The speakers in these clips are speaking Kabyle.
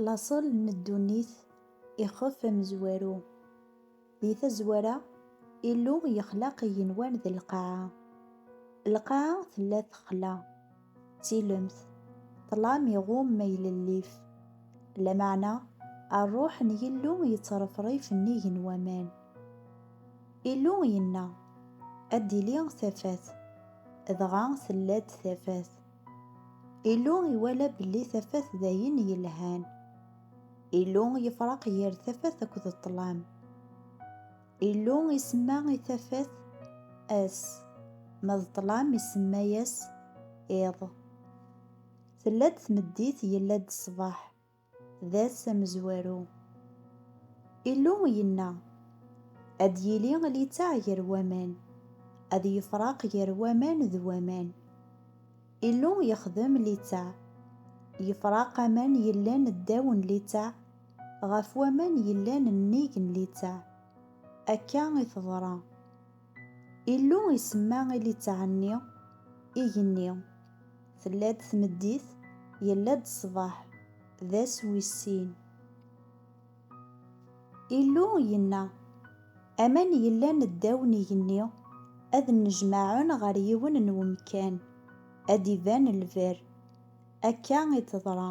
Laṣel n ddunit ixef amezwaru. Di tazwara, Illu yexlaq igenwan d lqaɛa. Lqaɛa tella texla, d tilemt, ṭṭlam iɣum ma ilellif. Lameɛna, ṛṛuḥ n Yillu yettṛefṛif nnig n waman. Illu yenna, Ad d-tili tafat, dɣa tella-d tafat. Illu iwala belli tafat d ayen yelhan. Illu yefraq yir tafat akked ṭṭlam. Illu isemma i tafat ass, ma d ṭṭlam isemma-yas iḍ. Tella-d tmeddit, yella-d ṣṣbeḥ. D ass amezwaru. Illu yenna, ad d-yili littaɛ gar waman, ad yefraq gar waman d waman. Illu yexdem littaɛ, yefraq aman yellan ddaw n littaɛ ɣef waman yellan nnig n littaɛ. Akka i teḍra. Illu isemma i litteɛ-nni igenni. Tella-d tmeddit, yella-d ṣṣbeḥ, d ass wis sin. Illu yenna, Aman yellan ddaw n igenni ad nnejmaɛen ɣer yiwen n wemkan, ad d-iban lberr. Akka i d-teḍra.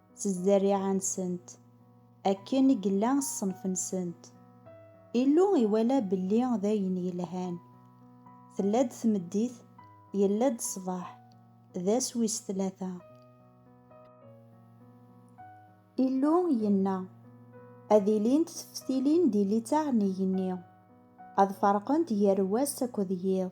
s zzerriɛa-nsent, akken i yella ṣṣenf-nsent. Illu iwala belli d ayen yelhan. Tella-d tmeddit, yella-d ṣṣbeḥ, d ass wis tlata. Illu yenna, Ad ilint teftilin di litteɛ n yigenni, ad ferqent gar wass akked yiḍ.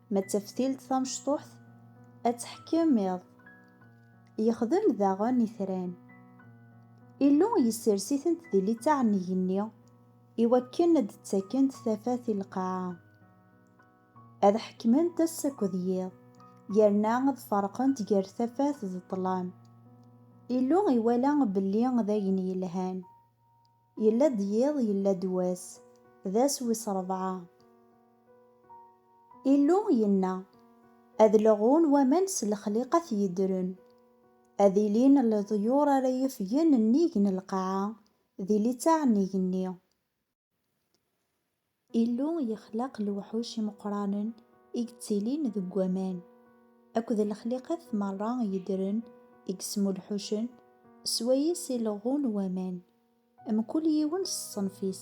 Ma d taftilt tamecṭuḥt ad teḥkem iḍ. Yexdem daɣen itran. Illu yessers-itent di littaɛ n yigenni iwakken ad d-ttakent tafat i lqaɛa. Ad ḥekment ass akked yiḍ, yerna ad ferqent gar tafat d ṭṭlam. Illu iwala belli d ayen yelhan. Yella-d yiḍ yella-d wass, d ass wis rebɛa. Illu yenna, Ad leɣun waman s lexliqat yeddren, ad ilin leḍyur ara yufgen nnig n lqaɛa di litteɛ n igenni. Illu yexlaq lewḥuc imeqqranen i yettilin deg waman, akked lexliqat merra yeddren i yesmulḥucen s wayes i leɣɣun waman, mkul yiwen s ṣṣenf-is.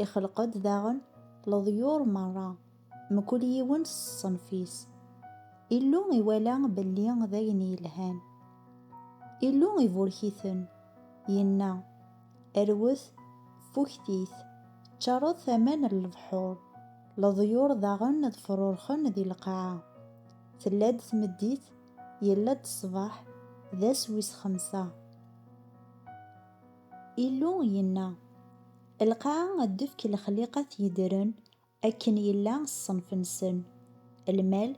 Ixleq-d daɣen leḍyur merra, mkul yiwen s ṣṣenf-is. Illu iwala belli d ayen yelhan. Illu iburek-iten, yenna. Rwet fuktit, ččaṛet aman n lebḥuṛ, leḍyuṛ daɣen ad fruṛxen di lqaɛa. Tella-d tmeddit, yella-d ṣṣbeḥ, d ass wis xemsa. Illu yenna, Lqaɛa ad d-tefk lexliqat yeddren, Akken yella ṣṣenf-nsen, lmal,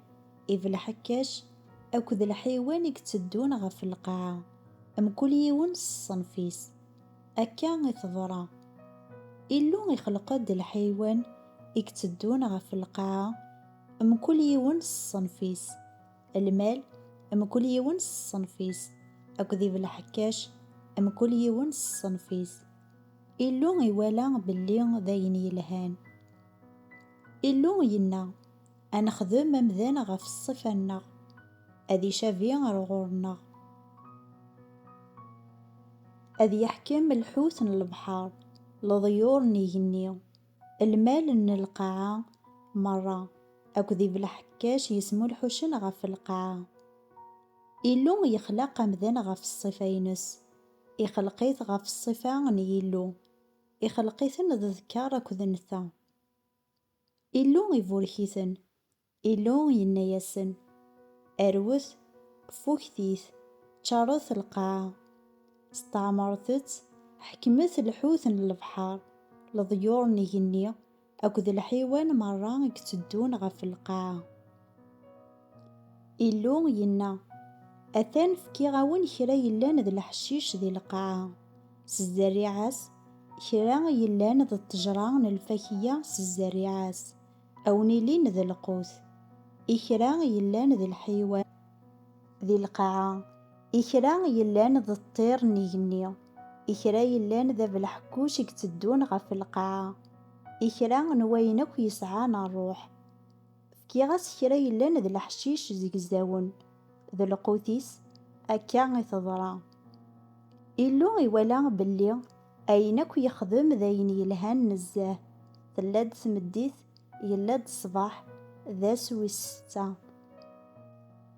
ibelḥekkac akked lḥiwan i itteddun ɣef lqaɛa, mkul yiwen s ṣṣenf-is. Akka i teḍra. Illu ixleq-d lḥiwan i itteddun ɣef lqaɛa, mkul yiwen s ṣṣenf-is, lmal, mkul yiwen s ṣṣenf-is, akked ibelḥekkac, mkul yiwen s ṣṣenf-is. Illu iwala belli d ayen yelhan. Illu yenna, A nexdem amdan ɣef ṣṣifa-nneɣ, ad icabi ar ɣur-nneɣ. Ad yeḥkem lḥut n lebḥer, leḍyur n igenni, lmal n lqaɛa merra akked ibelḥekkac yesmulḥucen ɣef lqaɛa. Illu yexlaq amdan ɣef ṣṣifa-ines. Ixleq-it ɣef ṣṣifa n Yillu, ixleq-iten d ddkeṛ akked netta. Illu iburek-iten, Illu yenna-yasen, Rwet, fuktit, ččaṛet lqaɛa, steɛmaṛet-tt, ḥekmet lḥut n lebḥeṛ, leḍyuṛ n igenni, Akked lḥiwan merra i itteddun ɣef lqaɛa. Illu yenna, Atan fkiɣ-awen kra yellan d leḥcic di lqaɛa, s zzerriɛa-s, kra yellan d ṭṭejra n lfakeyya s zzerriɛa-s, a wen-ilin d lqut, i kra yellan d lḥiwan. di lqaɛa, i kra yellan d ṭṭir n igenni, i kra yellan d abelḥekkuc i yetteddun ɣef lqaɛa, i kra n wayen akk yesɛan rruḥ. Fkiɣ-as kra yellan d leḥcic zegzawen, d lqut-is, akka i teḍra. Illu iwala belli ayen akk yexdem d ayen yelhan nezzeh, tella-d tmeddit, yella-d ṣṣbeḥ, d ass wis setta.